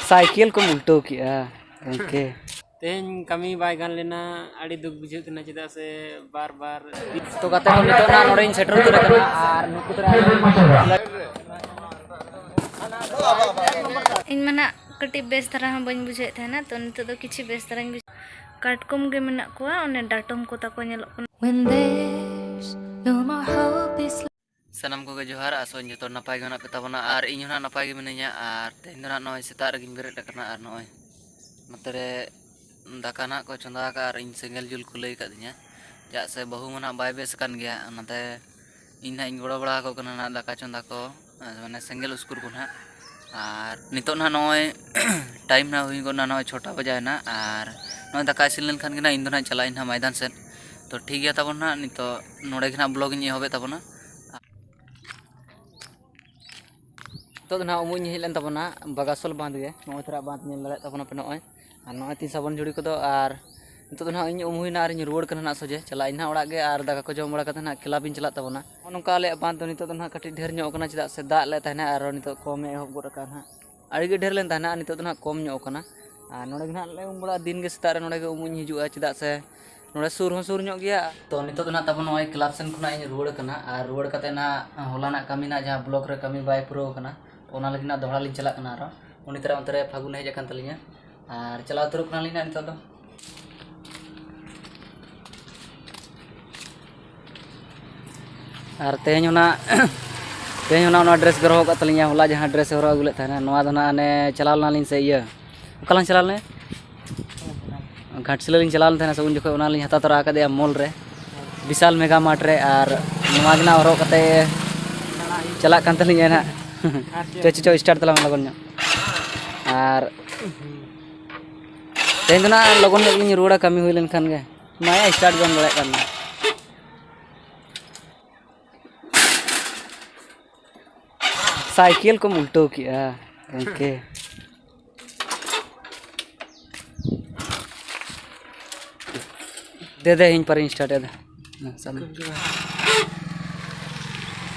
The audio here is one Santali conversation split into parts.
ᱥᱟᱭᱠᱮᱞ ᱠᱚᱢ ᱩᱞᱴᱟᱹᱣ ᱠᱮᱜᱼᱟ ᱜᱚᱢᱠᱮ ᱛᱮᱦᱮᱧ ᱠᱟᱹᱢᱤ ᱵᱟᱭ ᱜᱟᱱ ᱞᱮᱱᱟ ᱟᱹᱰᱤ ᱫᱩᱠ ᱵᱩᱡᱷᱟᱹᱜ ᱠᱟᱱᱟ ᱪᱮᱫᱟᱜ ᱥᱮ ᱵᱟᱨ ᱵᱟᱨ ᱛᱚ ᱜᱟᱛᱮ ᱠᱚ ᱱᱤᱛᱚᱜ ᱱᱟᱜ ᱱᱚᱰᱮᱧ ᱥᱮᱴᱮᱨ ᱩᱛᱟᱹᱨ ᱟᱠᱟᱱᱟ ᱟᱨ ᱱᱩᱠᱩ ᱫᱚ ᱤᱧ ᱢᱟ ᱱᱟᱜ ᱠᱟᱹᱴᱤᱡ ᱵᱮᱥ ᱫᱷᱟᱨᱟ ᱦᱚᱸ ᱵᱟᱹᱧ ᱵᱩᱡᱷᱟᱹᱣᱮᱫ ᱛᱟᱦᱮᱱᱟ ᱛᱚ ᱱᱤᱛᱚᱜ ᱫᱚ ᱠᱤᱪᱷᱩ ᱵᱮᱥ ᱫᱷᱟᱨᱟᱧ ᱵᱩᱡᱷᱟᱹᱣ ᱠᱟᱴᱠᱚᱢ ᱜᱮ ᱢᱮᱱᱟᱜ ᱠᱚᱣᱟ ᱚᱱᱮ ᱰᱟᱴᱚᱢ ᱠᱚ ᱛᱟᱠᱚ ᱧᱮᱞᱚᱜ ᱠᱟᱱᱟ ᱥᱟᱱᱟᱢ ᱠᱚᱜᱮ ᱡᱚᱦᱟᱨ ᱟᱥᱚᱜ ᱡᱚᱛᱚ ᱱᱟᱯᱟᱭ ᱜᱮ ᱢᱮᱱᱟᱜ ᱯᱮ ᱛᱟᱵᱚᱱᱟ ᱟᱨ ᱤᱧ ᱦᱚᱸ ᱱᱟᱯᱟᱭ ᱜᱮ ᱢᱤᱱᱟᱹᱧᱟ ᱟᱨ ᱛᱮᱦᱮᱧ ᱫᱚ ᱱᱚᱜᱼᱚᱭ ᱥᱮᱛᱟᱜ ᱨᱮᱜᱮᱧ ᱵᱮᱨᱮᱫ ᱟᱠᱟᱱᱟ ᱟᱨ ᱱᱚᱜᱼᱚᱭ ᱱᱚᱛᱮ ᱨᱮ ᱫᱟᱠᱟ ᱱᱟᱜ ᱠᱚ ᱪᱚᱸᱫᱟ ᱟᱠᱟᱫᱼᱟ ᱟᱨ ᱤᱧ ᱥᱮᱸᱜᱮᱞ ᱡᱩᱞ ᱠᱚ ᱞᱟᱹᱭ ᱟᱠᱟᱫᱤᱧᱟ ᱪᱮᱫᱟᱜ ᱥᱮ ᱵᱟᱹᱦᱩ ᱢᱟ ᱱᱟᱜ ᱵᱟᱭ ᱵᱮᱥ ᱟᱠᱟᱱ ᱜᱮᱭᱟ ᱚᱱᱟᱛᱮ ᱤᱧ ᱱᱟᱜ ᱤᱧ ᱜᱚᱲᱚ ᱵᱟᱲᱟ ᱟᱠᱚ ᱠᱟᱱᱟ ᱱᱟᱜ ᱫᱟᱠᱟ ᱪᱚᱸᱫᱟ ᱠᱚ ᱢᱟᱱᱮ ᱥᱮᱸᱜᱮᱞ ᱩᱥᱠᱩᱨ ᱠᱚ ᱱᱟᱜ ᱟᱨ ᱱᱤᱛᱚᱜ ᱱᱟᱦᱟᱜ ᱱᱚᱜᱼᱚᱭ ᱴᱟᱭᱤᱢ ᱱᱟᱦᱟᱜ ᱦᱩᱭ ᱜᱚᱫ ᱮᱱᱟ ᱱᱚᱜᱼᱚᱭ ᱪᱷᱚᱴᱟ ᱵᱟᱡᱟᱣ ᱮᱱᱟ ᱟᱨ ᱱᱚᱜᱼᱚᱭ ᱫᱟᱠᱟ ᱤᱥᱤᱱ ᱞᱮᱱ ᱠᱷᱟᱱ ᱜᱮ ᱱᱟᱦᱟᱜ ᱤᱧ ᱫᱚ ᱱᱟᱦᱟᱜ ᱪᱟᱞᱟᱜ ᱟᱹᱧ ᱱᱟᱦᱟᱜ ᱢᱚᱭᱫᱟᱱ ᱥᱮᱫ ᱛᱚ ᱴᱷᱤᱠ ᱜᱮᱭᱟ ᱛᱟᱵᱚᱱ ᱱᱟᱦᱟᱜ ᱱᱤᱛᱚᱜ ᱱᱚᱰᱮ ᱜᱮ ᱱᱟᱦᱟᱜ ᱵᱞᱚᱜᱽ ᱤᱧ ᱮᱦᱚᱵᱮᱫ ᱛᱟᱵᱚᱱᱟ ᱱᱤᱛᱚᱜ ᱫᱚ ᱱᱟᱦᱟᱜ ᱩᱢᱩᱜ ᱤᱧ ᱦᱮᱡ ᱞᱮᱱ ᱛᱟᱵᱚᱱᱟ ᱵᱟᱜᱟᱥᱚᱞ ᱵᱟᱸᱫᱽ ᱜᱮ ᱱᱚᱜᱼᱚᱭ ᱛᱚᱨᱟ ᱵᱟᱸᱫᱽ ᱧᱮᱞ ᱫᱟᱲᱮᱭᱟᱜ ᱛᱟᱵᱚᱱᱟᱯᱮ ᱱᱚᱜᱼᱚᱭ ᱟᱨ ᱱᱚᱜᱼᱚᱭ ᱛᱤᱧ ᱥᱟᱵᱚᱱ ᱡᱷᱩᱲᱤ ᱠᱚᱫᱚ ᱟᱨ ᱱᱤᱛᱚᱜ ᱫᱚ ᱱᱟᱦᱟᱜ ᱤᱧ ᱩᱢ ᱦᱩᱭᱱᱟ ᱟᱨᱤᱧ ᱨᱩᱣᱟᱹᱲ ᱠᱟᱱᱟ ᱱᱟᱦᱟᱜ ᱥᱚᱡᱷᱮ ᱪᱟᱞᱟᱜ ᱟᱹᱧ ᱱᱟᱦᱟᱜ ᱚᱲᱟᱜ ᱜᱮ ᱟᱨ ᱫᱟᱠᱟ ᱠᱚ ᱡᱚᱢ ᱵᱟᱲᱟ ᱠᱟᱛᱮ ᱱᱟᱦᱟᱜ ᱠᱞᱟᱵᱽ ᱤᱧ ᱪᱟᱞᱟᱜ ᱛᱟᱵᱚᱱᱟ ᱱᱚᱜᱼᱚ ᱱᱚᱝᱠᱟ ᱟᱞᱮᱭᱟᱜ ᱵᱟᱸᱫᱽ ᱫᱚ ᱱᱤᱛᱚᱜ ᱫᱚ ᱱᱟᱦᱟᱜ ᱠᱟᱹᱴᱤᱡ ᱰᱷᱮᱨ ᱧᱚᱜ ᱠᱟᱱᱟ ᱪᱮᱫᱟᱜ ᱥᱮ ᱫᱟᱜ ᱞᱮ ᱛᱟᱦᱮᱱᱟ ᱟᱨ ᱱᱤᱛᱚᱜ ᱠᱚᱢᱮ ᱮᱦᱚᱵ ᱜᱚᱫ ᱟᱠᱟᱫᱼᱟ ᱱᱟᱦᱟᱜ ᱟᱹᱰᱤ ᱜᱮ ᱰᱷᱮᱨ ᱞᱮᱱ ᱛᱟᱦᱮᱱᱟ ᱟᱨ ᱱᱤᱛᱚᱜ ᱫᱚ ᱱᱟᱦᱟᱜ ᱠᱚᱢ ᱧᱚᱜ ᱠᱟᱱᱟ ᱟᱨ ᱱᱚᱰᱮ ᱜᱮ ᱱᱟᱦᱟᱜ ᱞᱮ ᱩᱢ ᱵᱟᱲᱟᱜᱼᱟ ᱫᱤᱱ ᱜᱮ ᱥᱮᱛᱟᱜ ᱨᱮ ᱱᱚᱰᱮ ᱜᱮ ᱩᱢᱩᱜ ᱤᱧ ᱦᱤᱡᱩᱜᱼᱟ ᱪᱮᱫᱟᱜ ᱥᱮ ᱱᱚᱰᱮ ᱥᱩᱨ ᱦᱚᱸ ᱥᱩᱨ ᱧᱚᱜ ᱜᱮᱭᱟ ᱛᱚ ᱱᱤᱛᱚᱜ ᱫᱚ ᱱᱟᱜ ᱛᱟᱵᱚᱱ ᱱᱚᱜᱼᱚᱭ ᱠᱞᱟᱵᱽ ᱥᱮᱱ ᱠᱷᱚᱱᱟᱜ ᱤᱧ ᱨᱩᱣᱟᱹᱲ ᱠᱟᱱᱟ ᱟᱨ ᱨᱩᱣᱟᱹᱲ ᱠᱟᱛᱮ ᱱᱟᱜ ᱦᱚᱞᱟᱱᱟᱜ ᱠᱟᱹᱢᱤ ᱱᱟᱜ ᱡᱟᱦᱟᱸ ᱵᱞᱚᱠ ᱨᱮ ᱠᱟᱹᱢᱤ ᱵᱟᱭ ᱯᱩᱨᱟᱹᱣ ᱠᱟᱱᱟ ᱚᱱᱟ ᱞᱟᱹᱜᱤᱫ ᱱᱟᱜ ᱫᱚᱦᱲᱟ ᱞᱤᱧ ᱪᱟᱞᱟᱜ ᱠᱟᱱᱟ ᱟᱨᱚ ᱩᱱᱤ ᱛᱟᱨᱟ ᱚᱱᱛᱮ ᱨᱮ ᱯᱷᱟᱹᱜᱩᱱ ᱦᱮᱡ ᱟᱠᱟᱱ ᱛᱟᱹᱞᱤᱧᱟ ᱟᱨ ᱪᱟᱞᱟᱣ ᱩᱛᱟᱹᱨᱚᱜ ᱠᱟᱱᱟᱞᱤᱧ ᱱᱟᱜ ᱱᱤᱛᱚᱜ ᱫᱚ ᱟᱨ ᱛᱮᱦᱮᱧ ᱚᱱᱟ ᱛᱮᱦᱮᱧ ᱚᱱᱟ ᱚᱱᱟ ᱰᱨᱮᱥ ᱜᱮ ᱦᱚᱨᱚᱜ ᱠᱟᱜ ᱛᱟᱹᱞᱤᱧᱟ ᱦᱚᱞᱟ ᱡᱟᱦᱟᱸ ᱰᱨᱮᱥ ᱦᱚᱨᱚᱜ ᱟᱹᱜᱩ ᱞᱮᱫ ᱛᱟᱦᱮᱱᱟ ᱱᱚᱣᱟ ᱫᱚ ᱱᱟᱦᱟᱜ ᱚᱱᱮ ᱪᱟᱞᱟᱣ ᱞᱮᱱᱟᱞᱤᱧ ᱥᱮ ᱤᱭᱟᱹ ᱚᱠᱟᱞᱟᱝ ᱪᱟᱞᱟᱣ ᱞᱮᱱᱟ ᱜᱷᱟᱴᱥᱤᱞᱟᱹ ᱞᱤᱧ ᱪᱟᱞᱟᱣ ᱞᱮᱱ ᱛᱟᱦᱮᱱᱟ ᱥᱮ ᱩᱱ ᱡᱚᱠᱷᱚᱱ ᱚᱱᱟᱞᱤᱧ ᱦᱟᱛᱟᱣ ᱛᱚᱨᱟ ᱟᱠᱟᱫᱮᱭᱟ ᱢᱚᱞ ᱨᱮ ᱵᱤᱥᱟᱞ ᱢᱮᱜᱟ ᱢᱟᱨᱴ ᱨᱮ ᱟᱨ ᱱᱚᱣᱟ ᱜᱮ ᱱᱟᱦᱟᱜ ᱦᱚᱨᱚᱜ ᱠᱟᱛᱮ ᱪᱟᱞᱟᱜ ᱠᱟᱱ ᱛᱟᱹᱞᱤᱧᱟ ᱱᱟᱦᱟᱜ ᱪᱚ ᱪᱚ ᱥᱴᱟᱨᱴ ᱛᱟᱞᱟᱝ ᱞᱚᱜᱚᱱ ᱧᱚᱜ ᱟᱨ ᱛᱮᱦᱮᱧ ᱫᱚ ᱱᱟᱦᱟᱜ ᱞᱚᱜᱚᱱ ᱧᱚᱜ ᱞᱤᱧ ᱨᱩᱣᱟᱹᱲᱟ ᱠᱟᱹᱢᱤ ᱦᱩᱭ ᱞᱮᱱᱠᱷᱟᱱ ᱜᱮ ᱢᱟᱭᱟ ᱥᱴᱟᱨᱴ ᱵᱟᱝ ᱫᱟᱲᱮᱭᱟᱜ ᱠᱟᱱᱟ ᱥᱟᱭᱠᱮᱞ ᱠᱚᱢ ᱩᱞᱴᱟᱹᱣ ᱠᱮᱜᱼᱟ ᱜᱚᱢᱠᱮ ᱫᱮ ᱫᱮ ᱤᱧ ᱯᱟᱨᱤᱧ ᱥᱴᱟᱨᱴ ᱮᱫᱟ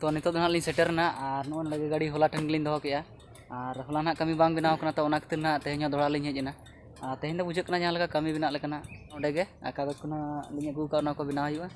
ᱛᱚ ᱱᱤᱛᱚᱜ ᱫᱚ ᱱᱟᱦᱟᱜ ᱞᱤᱧ ᱥᱮᱴᱮᱨᱱᱟ ᱟᱨ ᱱᱚᱜᱼᱚᱭ ᱞᱟᱜᱮ ᱜᱟᱹᱰᱤ ᱦᱚᱞᱟ ᱴᱷᱮᱱ ᱜᱮᱞᱤᱧ ᱫᱚᱦᱚ ᱠᱮᱜᱼᱟ ᱟᱨ ᱦᱚᱞᱟ ᱱᱟᱦᱟᱜ ᱠᱟᱹᱢᱤ ᱵᱟᱝ ᱵᱮᱱᱟᱣ ᱠᱟᱱᱟ ᱛᱚ ᱚᱱᱟ ᱠᱷᱟᱹᱛᱤᱨ ᱱᱟᱦᱟᱜ ᱛᱮᱦᱮᱧ ᱦᱚᱸ ᱫᱚᱦᱲᱟ ᱞᱤᱧ ᱦᱮᱡ ᱮᱱᱟ ᱟᱨ ᱛᱮᱦᱮᱧ ᱫᱚ ᱵᱩᱡᱷᱟᱹᱜ ᱠᱟᱱᱟ ᱡᱟᱦᱟᱸ ᱞᱮᱠᱟ ᱠᱟᱹᱢᱤ ᱵᱮᱱᱟᱜ ᱞᱮᱠᱟᱱᱟᱜ ᱚᱸᱰᱮ ᱜᱮ ᱟᱠᱟ ᱫᱚ ᱠᱷᱚᱱᱟᱜ ᱞᱤᱧ ᱟᱹᱜᱩ ᱠᱟᱜᱼᱟ ᱚᱱᱟ ᱠᱚ ᱵᱮᱱᱟᱣ ᱦᱩᱭᱩᱜᱼᱟ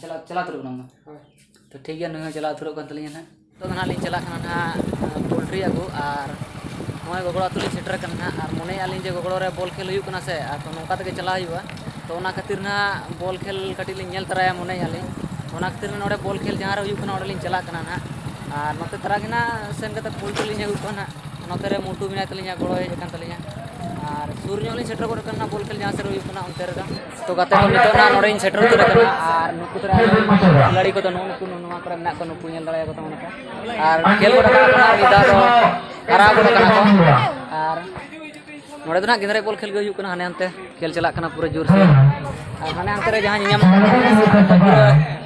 ᱪᱟᱞᱟᱣ ᱪᱟᱞᱟᱣ ᱩᱛᱟᱹᱨᱚᱜ ᱠᱟᱱᱟᱢ ᱦᱳᱭ ᱛᱚ ᱴᱷᱤᱠ ᱜᱮᱭᱟ ᱱᱩᱭ ᱦᱚᱸ ᱪᱟᱞᱟᱣ ᱩᱛᱟᱹᱨᱚᱜ ᱠᱟᱱ ᱛᱟᱹᱞᱤᱧᱟ ᱱᱟᱦᱟᱜ ᱱᱤᱛᱚᱜ ᱫᱚ ᱱᱟᱦᱟᱜ ᱞᱤᱧ ᱪᱟᱞᱟᱜ ᱠᱟᱱᱟ ᱱᱟᱦᱟᱜ ᱯᱳᱞᱴᱨᱤ ᱟᱹᱜᱩ ᱟᱨ ᱱᱚᱜᱼᱚᱭ ᱜᱚᱜᱚᱲ ᱟᱹᱛᱩ ᱞᱤᱧ ᱥᱮᱴᱮᱨ ᱠᱟᱱᱟ ᱱᱟᱦᱟᱜ ᱟᱨ ᱢᱚᱱᱮᱭᱮᱫᱼᱟ ᱞᱤᱧ ᱡᱮ ᱜᱚᱜᱚᱲ ᱨᱮ ᱵᱚᱞ ᱠᱷᱮᱞ ᱦᱩᱭᱩᱜ ᱠᱟᱱᱟ ᱥᱮ ᱟᱨ ᱛᱚ ᱱᱚᱝᱠᱟ ᱛᱮᱜᱮ ᱪᱟᱞᱟᱣ ᱦᱩᱭᱩᱜᱼᱟ ᱛᱚ ᱚᱱᱟ ᱠᱷᱟᱹᱛᱤᱨ ᱱᱟᱦᱟᱜ ᱵᱚᱞ ᱠᱷᱮᱞ ᱠᱟᱹᱴᱤᱡ ᱞᱤᱧ ᱧᱮᱞ ᱛᱚᱨᱟᱭᱟ ᱢᱚᱱᱮᱭᱮᱫᱼᱟ ᱞᱤᱧ ᱚᱱᱟ ᱠᱷᱟᱹᱛᱤᱨ ᱱᱚᱰᱮ ᱵᱚᱞ ᱠᱷᱮᱞ ᱡᱟᱦᱟᱸ ᱨᱮ ᱦᱩᱭᱩᱜ ᱠᱟᱱᱟ ᱚᱸᱰᱮ ᱞᱤᱧ ᱪᱟᱞᱟᱜ ᱠᱟᱱᱟ ᱱᱟᱦᱟᱜ ᱟᱨ ᱱᱚᱛᱮ ᱛᱟᱨᱟ ᱜᱮ ᱱᱟᱦᱟᱜ ᱥᱮᱱ ᱠᱟᱛᱮᱫ ᱯᱳᱞᱴᱨᱤ ᱞᱤᱧ ᱟᱹᱜᱩ ᱠᱚᱣᱟ ᱱᱟᱦᱟᱜ ᱱᱚᱛᱮ ᱨᱮ ᱢᱩᱴᱩ ᱢᱮᱱᱟᱭ ᱛᱟᱹᱞᱤᱧᱟ ᱜᱚᱲᱚᱭ ᱦᱮᱡ ᱟᱠᱟᱱ ᱛᱟᱹᱞᱤᱧᱟ ᱟᱨ ᱥᱩᱨ ᱧᱚᱜ ᱞᱤᱧ ᱥᱮᱴᱮᱨ ᱜᱚᱫ ᱟᱠᱟᱱᱟ ᱵᱚᱞ ᱠᱷᱮᱞ ᱡᱟᱦᱟᱸ ᱥᱮᱫ ᱨᱮ ᱦᱩᱭᱩᱜ ᱠᱟᱱᱟ ᱚᱱᱛᱮ ᱨᱮᱫᱚ ᱛᱚ ᱜᱟᱛᱮ ᱠᱚ ᱱᱤᱛᱚᱜ ᱱᱟᱜ ᱱᱚᱰᱮᱧ ᱥᱮᱴᱮᱨ ᱩᱛᱟᱹᱨ ᱟᱠᱟᱱᱟ ᱟᱨ ᱱᱩᱠᱩ ᱛᱚᱨᱟ ᱠᱷᱤᱞᱟᱲᱤ ᱠᱚᱫᱚ ᱱᱩᱜᱼᱩ ᱱᱩᱠᱩ ᱱᱚᱣᱟ ᱠᱚᱨᱮ ᱢᱮᱱᱟᱜ ᱠᱚᱣᱟ ᱱᱩᱠᱩ ᱧᱮᱞ ᱫᱟᱲᱮᱭᱟᱠᱚ ᱛᱟᱵᱚᱱᱟ ᱠᱚ ᱟᱨ ᱠᱷᱮᱞ ᱜᱚᱰᱟ ᱠᱟᱱᱟ ᱠᱚ ᱢᱤᱫ ᱫᱷᱟᱣ ᱫᱚ ᱦᱟᱨᱟᱣ ᱜᱚᱰᱟ ᱠᱟᱱᱟ ᱠᱚ ᱟᱨ ᱱᱚᱰᱮ ᱫᱚ ᱱᱟᱜ ᱜᱤᱫᱽᱨᱟᱹ ᱵᱚᱞ ᱠᱷᱮᱞ ᱜᱮ ᱦᱩᱭᱩᱜ ᱠᱟᱱᱟ ᱦᱟᱱᱮ ᱦᱟᱱᱛᱮ ᱠᱷᱮᱞ ᱪᱟᱞᱟᱜ ᱠᱟᱱᱟ ᱯᱩᱨᱟᱹ ᱡᱳᱨ ᱥᱮ ᱟᱨ ᱦᱟᱱᱮ ᱦᱟᱱᱛᱮ ᱨᱮ ᱡᱟᱦᱟᱸ ᱧᱮᱧᱟᱢᱚᱜ ᱠᱟᱱᱟ ᱯᱩᱨᱟᱹ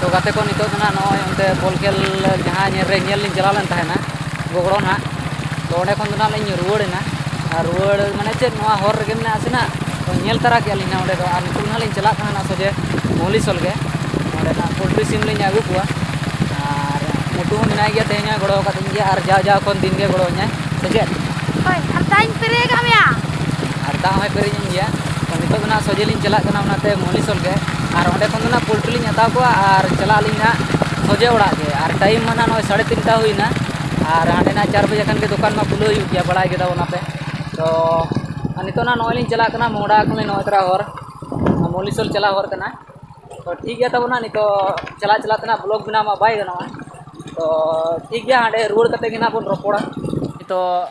ᱛᱚ ᱜᱟᱛᱮ ᱠᱚ ᱱᱤᱛᱚᱜ ᱫᱚ ᱱᱟᱦᱟᱜ ᱱᱚᱜᱼᱚᱭ ᱚᱱᱛᱮ ᱵᱚᱞ ᱠᱷᱮᱞ ᱡᱟᱦᱟᱸ ᱧᱮᱞ ᱨᱮ ᱧᱮᱞ ᱞᱤᱧ ᱪᱟᱞᱟᱣ ᱞᱮᱱ ᱛᱟᱦᱮᱱᱟ ᱜᱚᱜᱽᱲᱚ ᱱᱟᱜ ᱛᱚ ᱚᱸᱰᱮ ᱠᱷᱚᱱ ᱫᱚ ᱱᱟᱜ ᱞᱤᱧ ᱨᱩᱣᱟᱹᱲ ᱮᱱᱟ ᱟᱨ ᱨᱩᱣᱟᱹᱲ ᱢᱟᱱᱮ ᱪᱮᱫ ᱱᱚᱣᱟ ᱦᱚᱨ ᱨᱮᱜᱮ ᱢᱮᱱᱟᱜ ᱟᱥᱮ ᱱᱟᱜ ᱛᱚ ᱧᱮᱞ ᱛᱟᱨᱟ ᱠᱮᱜᱼᱟ ᱞᱤᱧ ᱱᱟᱜ ᱚᱸᱰᱮ ᱫᱚ ᱟᱨ ᱱᱤᱛᱚᱜ ᱱᱟᱜ ᱞᱤᱧ ᱪᱟᱞᱟᱜ ᱠᱟᱱᱟ ᱥᱚᱡᱷᱮ ᱢᱚᱦᱞᱤᱥᱚᱞ ᱜᱮ ᱚᱸᱰᱮ ᱱᱟᱜ ᱯᱳᱞᱴᱨᱤ ᱥᱤᱢ ᱞᱤᱧ ᱟᱹᱜᱩ ᱠᱚᱣᱟ ᱟᱨ ᱢᱳᱴᱩ ᱦᱚᱸ ᱢᱮᱱᱟᱭ ᱜᱮᱭᱟ ᱛᱮᱦᱮᱧ ᱦᱚᱸᱭ ᱜᱚᱲᱚ ᱟᱠᱟᱫᱤᱧ ᱜᱮᱭᱟ ᱟᱨ ᱡᱟᱣ ᱡᱟᱣ ᱠᱷᱚᱱ ᱫᱤᱱ ᱜᱮ ᱜᱚᱲᱚ ᱤᱧᱟᱭ ᱥᱮ ᱪᱮᱫ ᱦᱳᱭ ᱟᱨ ᱫᱟᱜ ᱤᱧ ᱯᱮᱨᱮᱡ ᱟᱠᱟᱫ ᱢᱮᱭᱟ ᱟᱨ ᱫᱟᱜ ᱦᱚᱸᱭ ᱯᱮᱨᱮᱡ ᱤᱧ ᱜᱮᱭᱟ ᱛᱚ ᱱᱤᱛᱚᱜ ᱫᱚ ᱱᱟᱜ ᱥᱚᱡᱷᱮ ᱞᱤᱧ ᱪᱟᱞᱟᱜ ᱠᱟᱱᱟ ᱚᱱᱟᱛᱮ ᱢᱚᱦᱞᱤᱥᱚᱞ ᱜᱮ ᱟᱨ ᱚᱸᱰᱮ ᱠᱷᱚᱱ ᱫᱚ ᱱᱟᱜ ᱯᱳᱞᱴᱨᱤ ᱞᱤᱧ ᱦᱟᱛᱟᱣ ᱠᱚᱣᱟ ᱟᱨ ᱪᱟᱞᱟᱜ ᱟᱹᱞᱤᱧ ᱱᱟᱜ ᱥᱚᱡᱷᱮ ᱚᱲᱟᱜ ᱜᱮ ᱟᱨ ᱴᱟᱭᱤᱢ ᱢᱟ ᱱᱟᱦᱟᱜ ᱱᱚᱜᱼᱚᱭ ᱥᱟᱲᱮ ᱛᱤᱱᱴᱟ ᱦᱩᱭᱱᱟ ᱟᱨ ᱦᱟᱸᱰᱮ ᱱᱟᱦᱟᱜ ᱪᱟᱨ ᱵᱟᱡᱮ ᱠᱷᱟᱱ ᱜᱮ ᱫᱚᱠᱟᱱ ᱢᱟ ᱠᱷᱩᱞᱟᱹᱣ ᱦᱩᱭᱩᱜ ᱜᱮᱭᱟ ᱵᱟᱲᱟᱭ ᱜᱮ ᱛᱟᱵᱚᱱ ᱟᱯᱮ ᱛᱚ ᱟᱨ ᱱᱤᱛᱚᱜ ᱱᱟᱦᱟᱜ ᱱᱚᱜᱼᱚᱭ ᱞᱤᱧ ᱪᱟᱞᱟᱜ ᱠᱟᱱᱟ ᱢᱚᱦᱰᱟ ᱠᱷᱚᱱ ᱞᱤᱧ ᱱᱚᱜᱼᱚᱭ ᱛᱚᱨᱟ ᱦᱚᱨ ᱢᱚᱞᱤᱥᱳᱞ ᱪᱟᱞᱟᱜ ᱦᱚᱨ ᱠᱟᱱᱟ ᱛᱚ ᱴᱷᱤᱠ ᱜᱮᱭᱟ ᱛᱟᱵᱚᱱ ᱱᱟᱦᱟᱜ ᱱᱤᱛᱚᱜ ᱪᱟᱞᱟᱜ ᱪᱟᱞᱟᱜ ᱛᱮ ᱱᱟᱦᱟᱜ ᱵᱞᱚᱜᱽ ᱵᱮᱱᱟᱣ ᱢᱟ ᱵᱟᱭ ᱜᱟᱱᱚᱜᱼᱟ ᱛᱚ ᱴᱷᱤᱠ ᱜᱮᱭᱟ ᱦᱟᱸᱰᱮ ᱨᱩᱣᱟᱹᱲ ᱠᱟᱛᱮᱫ ᱜᱮ ᱱᱟᱦᱟᱜ ᱵᱚᱱ ᱨᱚᱯᱚᱲᱟ ᱱᱤᱛᱚᱜ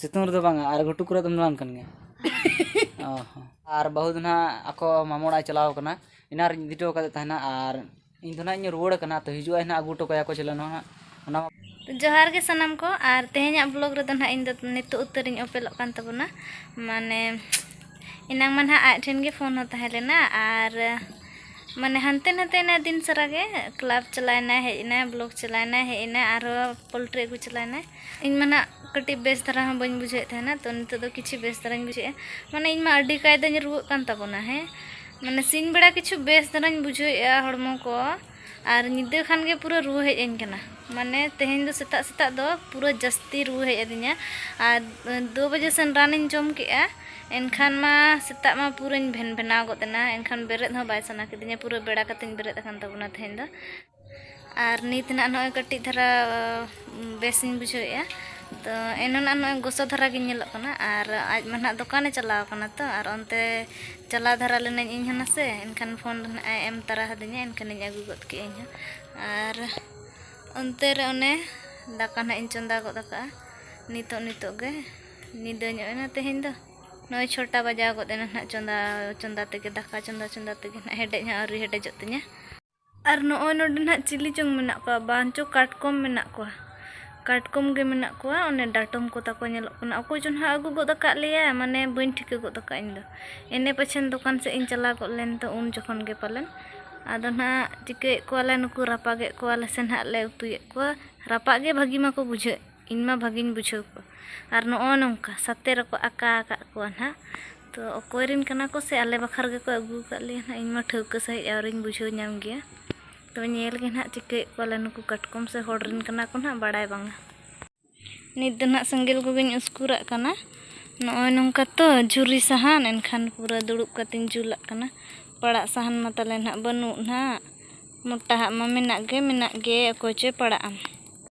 ᱥᱤᱛᱩᱝ ᱨᱮᱫᱚ ᱵᱟᱝᱟ ᱟᱨ ᱜᱷᱩᱴᱩ ᱠᱚᱨᱮ ᱫᱚᱢ ᱫᱟᱬᱟᱱ ᱠᱟᱱ ᱜᱮᱭᱟ ᱚ ᱦᱚᱸ ᱟᱨ ᱵᱟᱹᱦᱩ ᱫᱚ ᱱᱟᱦᱟᱜ ᱟᱠᱚ ᱢᱟᱢᱚ ᱚᱲᱟᱜ ᱪᱟᱞᱟᱣ ᱠᱟᱱᱟ ᱮᱱᱟᱱ ᱨᱤᱧ ᱤᱫᱤ ᱦᱚᱴᱚ ᱟᱠᱟᱫᱮ ᱛᱟᱦᱮᱱᱟ ᱟᱨ ᱤᱧ ᱫᱚ ᱱᱟᱦᱟᱜ ᱤᱧ ᱨᱩᱣᱟᱹᱲ ᱠᱟᱱᱟ ᱛᱚ ᱦᱤᱡᱩᱜ ᱟᱭ ᱱᱟᱦᱟᱜ ᱟᱹᱜᱩ ᱦᱚᱴᱚ ᱠᱟᱭᱟ ᱠᱚ ᱪᱮᱞᱮ ᱱᱚᱣᱟ ᱚᱱᱟ ᱡᱚᱦᱟᱨ ᱜᱮ ᱥᱟᱱᱟᱢ ᱠᱚ ᱟᱨ ᱛᱮᱦᱮᱧᱟᱜ ᱵᱞᱚᱜ ᱨᱮᱫᱚ ᱱᱟᱦᱟᱜ ᱤᱧ ᱫᱚ ᱱᱤᱛᱚᱜ ᱩᱛᱟᱹᱨᱤᱧ ᱚᱯᱮᱞᱚᱜ ᱠᱟᱱ ᱛᱟᱵᱚᱱᱟ ᱢᱟᱱᱮ ᱮᱱᱟᱝ ᱢᱟ ᱱᱟᱦᱟᱜ ᱟᱡ ᱴᱷᱮᱱ ᱜᱮ ᱯᱷᱳᱱ ᱦᱚᱸ ᱛᱟᱦᱮᱸ ᱞᱮᱱᱟ ᱟᱨ ᱢᱟᱱᱮ ᱦᱟᱱᱛᱮ ᱱᱟᱛᱮ ᱮᱱᱟᱭ ᱫᱤᱱ ᱥᱟᱨᱟ ᱜᱮ ᱠᱞᱟᱵᱽ ᱪᱟᱞᱟᱣ ᱮᱱᱟᱭ ᱦᱮᱡ ᱮᱱᱟᱭ ᱵᱞᱚᱠ ᱪᱟᱞᱟᱣ ᱮᱱᱟᱭ ᱦᱮᱡ ᱮᱱᱟᱭ ᱟᱨᱦᱚᱸ ᱯᱳᱞᱴᱨᱤ ᱟᱹᱜᱩ ᱪᱟᱞᱟᱣ ᱮᱱᱟᱭ ᱤᱧ ᱢᱟᱱᱟ ᱠᱟᱹᱴᱤᱡ ᱵᱮᱥ ᱫᱷᱟᱨᱟ ᱦᱚᱸ ᱵᱟᱹᱧ ᱵᱩᱡᱷᱟᱹᱣᱮᱫ ᱛᱟᱦᱮᱱᱟ ᱛᱚ ᱱᱤᱛᱚᱜ ᱫᱚ ᱠᱤᱪᱷᱩ ᱵᱮᱥ ᱫᱷᱟᱨᱟᱧ ᱵᱩᱡᱷᱟᱹᱣᱮᱫᱼᱟ ᱢᱟᱱᱮ ᱤᱧ ᱢᱟ ᱟᱹᱰᱤ ᱠᱟᱭᱫᱟᱧ ᱨᱩᱣᱟᱹᱜ ᱠᱟᱱ ᱛᱟᱵᱚᱱᱟ ᱦᱮᱸ ᱢᱟᱱᱮ ᱥᱤᱧ ᱵᱮᱲᱟ ᱠᱤᱪᱷᱩ ᱵᱮᱥ ᱫᱷᱟᱨᱟᱧ ᱵᱩᱡᱷᱟᱹᱣᱮᱫᱼᱟ ᱦᱚᱲᱢᱚ ᱠᱚ ᱟᱨ ᱧᱤᱫᱟᱹ ᱠᱷᱟᱱ ᱜᱮ ᱯᱩᱨᱟᱹ ᱨᱩᱣᱟᱹ ᱦᱮᱡ ᱟᱹᱧ ᱠᱟᱱᱟ ᱢᱟᱱᱮ ᱛᱮᱦᱮᱧ ᱫᱚ ᱥᱮᱛᱟᱜ ᱥᱮᱛᱟᱜ ᱫᱚ ᱯᱩᱨᱟᱹ ᱡᱟᱹᱥᱛᱤ ᱨᱩᱣᱟᱹ ᱦᱮᱡ ᱟᱹᱫᱤᱧᱟ ᱟᱨ ᱫᱩ ᱵᱟᱡᱮ ᱥᱮᱱ ᱨᱟᱱᱤᱧ ᱡᱚᱢ ᱠᱮᱫᱼᱟ ᱮᱱᱠᱷᱟᱱ ᱢᱟ ᱥᱮᱛᱟᱜ ᱢᱟ ᱯᱩᱨᱟᱹᱧ ᱵᱷᱮᱱ ᱵᱷᱮᱱᱟᱣ ᱜᱚᱫ ᱮᱱᱟ ᱮᱱᱠᱷᱟᱱ ᱵᱮᱨᱮᱫ ᱦᱚᱸ ᱵᱟᱭ ᱥᱟᱱᱟ ᱠᱤᱫᱤᱧᱟ ᱯᱩᱨᱟᱹ ᱵᱮᱲᱟ ᱠᱟᱛᱮᱧ ᱵᱮᱨᱮᱫ ᱟᱠᱟᱱ ᱛᱟᱵᱚᱱᱟ ᱛᱮᱦᱮᱧ ᱫᱚ ᱟᱨ ᱱᱤᱛ ᱱᱟᱜ ᱱᱚᱜᱼᱚᱭ ᱠᱟᱹᱴᱤᱡ ᱫᱷᱟᱨᱟ ᱵᱮᱥᱤᱧ ᱵᱩᱡᱷᱟᱹᱣᱮᱫᱼᱟ ᱛᱚ ᱮᱱᱟᱱᱟᱜ ᱱᱚᱜᱼᱚᱭ ᱜᱚᱥᱚ ᱫᱷᱟᱨᱟ ᱜᱮ ᱧᱮᱞᱚᱜ ᱠᱟᱱᱟ ᱟᱨ ᱟᱡ ᱢᱟ ᱱᱟᱜ ᱫᱚᱠᱟᱱᱮ ᱪᱟᱞᱟᱣ ᱠᱟᱱᱟ ᱛᱚ ᱟᱨ ᱚᱱᱛᱮ ᱪᱟᱞᱟᱣ ᱫᱷᱟᱨᱟ ᱞᱮᱱᱟᱹᱧ ᱤᱧ ᱦᱚᱸ ᱱᱟᱥᱮ ᱮᱱᱠᱷᱟᱱ ᱯᱷᱳᱱ ᱫᱚ ᱱᱟᱜ ᱮ ᱮᱢ ᱛᱟᱨᱟ ᱟᱹᱫᱤᱧᱟ ᱮᱱᱠᱷᱟᱱᱤᱧ ᱟᱹᱜᱩ ᱜᱚᱫ ᱠᱮᱫᱼᱟ ᱤᱧ ᱦᱚᱸ ᱟᱨ ᱚᱱᱛᱮ ᱨᱮ ᱚᱱᱮ ᱫᱟᱠᱟ ᱱᱟᱜ ᱤᱧ ᱪᱚᱸᱫᱟ ᱜᱚᱫ ᱟᱠᱟᱫᱼᱟ ᱱᱤᱛᱚᱜ ᱱᱤᱛᱚᱜ ᱜᱮ ᱧᱤᱫᱟᱹ ᱧᱚᱜ ᱮᱱᱟ ᱛᱮᱦᱮᱧ ᱫᱚ ᱱᱚᱜᱼᱚᱭ ᱪᱷᱚᱴᱟ ᱵᱟᱡᱟᱣ ᱜᱚᱫ ᱮᱱᱟ ᱱᱟᱜ ᱪᱚᱸᱫᱟ ᱪᱚᱸᱫᱟ ᱛᱮᱜᱮ ᱫᱟᱠᱟ ᱪᱚᱸᱫᱟ ᱪᱚᱸᱫᱟ ᱛᱮᱜᱮ ᱱᱟᱜ ᱦᱮᱰᱮᱡ ᱦᱚᱸ ᱟᱹᱣᱨᱤ ᱦᱮᱰᱮᱡᱚᱜ ᱛᱤᱧᱟᱹ ᱟᱨ ᱱᱚᱜᱼᱚᱭ ᱱᱚᱰᱮ ᱱᱟᱦᱟᱜ ᱪᱤᱞᱤ ᱪᱚᱝ ᱢᱮᱱᱟᱜ ᱠᱚᱣᱟ ᱵᱟᱝ ᱪᱚ ᱠᱟᱴᱠᱚᱢ ᱢᱮᱱᱟᱜ ᱠᱚᱣᱟ ᱠᱟᱴᱠᱚᱢ ᱜᱮ ᱢᱮᱱᱟᱜ ᱠᱚᱣᱟ ᱚᱱᱮ ᱰᱟᱴᱚᱢ ᱠᱚ ᱛᱟᱠᱚ ᱧᱮᱞᱚᱜ ᱠᱟᱱᱟ ᱚᱠᱚᱭ ᱪᱚ ᱱᱟᱦᱟᱜ ᱟᱹᱜᱩ ᱜᱚᱫ ᱟᱠᱟᱫ ᱞᱮᱭᱟᱭ ᱢᱟᱱᱮ ᱵᱟᱹᱧ ᱴᱷᱤᱠᱟᱹ ᱜᱚᱫ ᱟᱠᱟᱫᱼᱟ ᱤᱧ ᱫᱚ ᱮᱱᱮ ᱯᱟᱪᱷᱮᱱ ᱫᱚᱠᱟᱱ ᱥᱮᱫ ᱤᱧ ᱪᱟᱞᱟᱣ ᱜᱚᱫ ᱞᱮᱱ ᱫᱚ ᱩᱱ ᱡᱚᱠᱷᱚᱱ ᱜᱮ ᱯᱟᱞᱮᱱ ᱟᱫᱚ ᱱᱟᱦᱟᱜ ᱪᱤᱠᱟᱹᱭᱮᱫ ᱠᱚᱣᱟᱞᱮ ᱱᱩᱠᱩ ᱨᱟᱯᱟᱜᱮᱫ ᱠᱚᱣᱟᱞᱮ ᱥᱮ ᱱᱟᱦᱟᱜ ᱞᱮ ᱩᱛᱩᱭᱮᱫ ᱠᱚᱣᱟ ᱨᱟᱯᱟᱜ ᱜᱮ ᱵᱷᱟᱹᱜᱤ ᱢᱟᱠᱚ ᱵᱩᱡᱷᱟᱹᱜ ᱤᱧ ᱢᱟ ᱵᱷᱟᱹᱜᱤᱧ ᱵᱩᱡᱷᱟᱹᱣ ᱠᱚᱣᱟ ᱟᱨ ᱱᱚᱜᱼᱚᱭ ᱱᱚᱝᱠᱟ ᱥᱟᱛᱮ ᱨᱮᱠᱚ ᱟᱠᱟ ᱟᱠᱟᱫ ᱠᱚᱣᱟ ᱱᱟᱦᱟᱜ ᱛᱚ ᱚᱠᱚᱭ ᱨᱮᱱ ᱠᱟᱱᱟ ᱠᱚ ᱥᱮ ᱟᱞᱮ ᱵᱟᱠᱷᱨᱟ ᱜᱮ ᱠᱚ ᱟᱹᱜᱩ ᱟᱠᱟᱫ ᱞᱮᱭᱟ ᱱᱟᱦᱟᱜ ᱤᱧ ᱢᱟ ᱴᱷᱟᱹᱣᱠᱟᱹ ᱥᱟᱺᱦᱤᱡ ᱟᱹᱣᱨᱤᱧ ᱵᱩᱡᱷᱟᱹᱣ ᱧᱟᱢ ᱜᱮᱭᱟ ᱛᱚ ᱧᱮᱞ ᱜᱮ ᱱᱟᱦᱟᱜ ᱪᱤᱠᱟᱹᱭᱮᱫ ᱠᱚᱣᱟ ᱞᱮ ᱱᱩᱠᱩ ᱠᱟᱴᱠᱚᱢ ᱥᱮ ᱦᱚᱲ ᱨᱮᱱ ᱠᱟᱱᱟ ᱠᱚ ᱱᱟᱦᱟᱜ ᱵᱟᱲᱟᱭ ᱵᱟᱝᱟ ᱱᱤᱛ ᱫᱚ ᱱᱟᱦᱟᱜ ᱥᱮᱸᱜᱮᱞ ᱠᱚᱜᱮᱧ ᱩᱥᱠᱩᱨᱟᱜ ᱠᱟᱱᱟ ᱱᱚᱜᱼᱚᱭ ᱱᱚᱝᱠᱟ ᱛᱚ ᱡᱷᱩᱨᱤ ᱥᱟᱦᱟᱱ ᱮᱱᱠᱷᱟᱱ ᱯᱩᱨᱟᱹ ᱫᱩᱲᱩᱵ ᱠᱟᱛᱮᱧ ᱡᱩᱞᱟᱜ ᱠᱟᱱᱟ ᱯᱟᱲᱟᱜ ᱥᱟᱦᱟᱱ ᱢᱟ ᱛᱟᱞᱮ ᱱᱟᱦᱟᱜ ᱵᱟᱹᱱᱩᱜ ᱱᱟᱦᱟᱜ ᱢᱚᱴᱟᱣᱟᱜ ᱢᱟ ᱢᱮᱱᱟᱜ ᱜᱮ ᱢᱮᱱᱟᱜ ᱜᱮ ᱚᱠᱚᱭ ᱪᱚᱭ ᱯᱟᱲᱟᱜᱼᱟ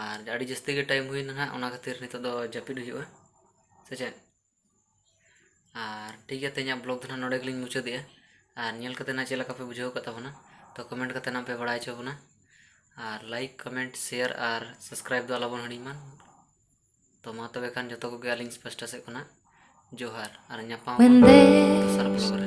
ᱟᱨ ᱟᱹᱰᱤ ᱡᱟᱹᱥᱛᱤ ᱜᱮ ᱴᱟᱭᱤᱢ ᱦᱩᱭᱱᱟ ᱦᱟᱸᱜ ᱚᱱᱟ ᱠᱷᱟᱹᱛᱤᱨ ᱱᱤᱛᱚᱜ ᱫᱚ ᱡᱟᱹᱯᱤᱫ ᱦᱩᱭᱩᱜᱼᱟ ᱥᱮ ᱪᱮᱫ ᱟᱨ ᱴᱷᱤᱠ ᱜᱮᱭᱟ ᱛᱮᱦᱮᱧᱟᱜ ᱵᱞᱚᱜᱽ ᱫᱚ ᱦᱟᱸᱜ ᱱᱚᱰᱮ ᱜᱮᱞᱤᱧ ᱢᱩᱪᱟᱹᱫᱮᱜᱼᱟ ᱟᱨ ᱧᱮᱞ ᱠᱟᱛᱮ ᱦᱟᱸᱜ ᱪᱮᱫ ᱞᱮᱠᱟ ᱯᱮ ᱵᱩᱡᱷᱟᱹᱣ ᱠᱟᱜ ᱛᱟᱵᱚᱱᱟ ᱛᱚ ᱠᱚᱢᱮᱱᱴ ᱠᱟᱛᱮ ᱦᱟᱸᱜ ᱯᱮ ᱵᱟᱲᱟᱭ ᱦᱚᱪᱚ ᱵᱚᱱᱟ ᱟᱨ ᱞᱟᱭᱤᱠ ᱠᱚᱢᱮᱱᱴ ᱥᱮᱭᱟᱨ ᱟᱨ ᱥᱟᱵᱥᱠᱨᱟᱭᱤᱵ ᱫᱚ ᱟᱞᱚᱵᱚᱱ ᱦᱤᱲᱤᱧ ᱢᱟ ᱛᱚ ᱢᱟ ᱛᱚᱵᱮ ᱠᱷᱟᱱ ᱡᱚᱛᱚ ᱠᱚᱜᱮ ᱟᱹᱞᱤᱧ ᱯᱟᱥᱴᱟ ᱥᱮᱫ ᱠᱷᱚᱱᱟᱜ ᱡᱚᱦᱟᱨ ᱟᱨ ᱧᱟᱯᱟᱢ ᱫᱚᱥᱟᱨ ᱵᱞᱚᱜᱽ ᱨᱮ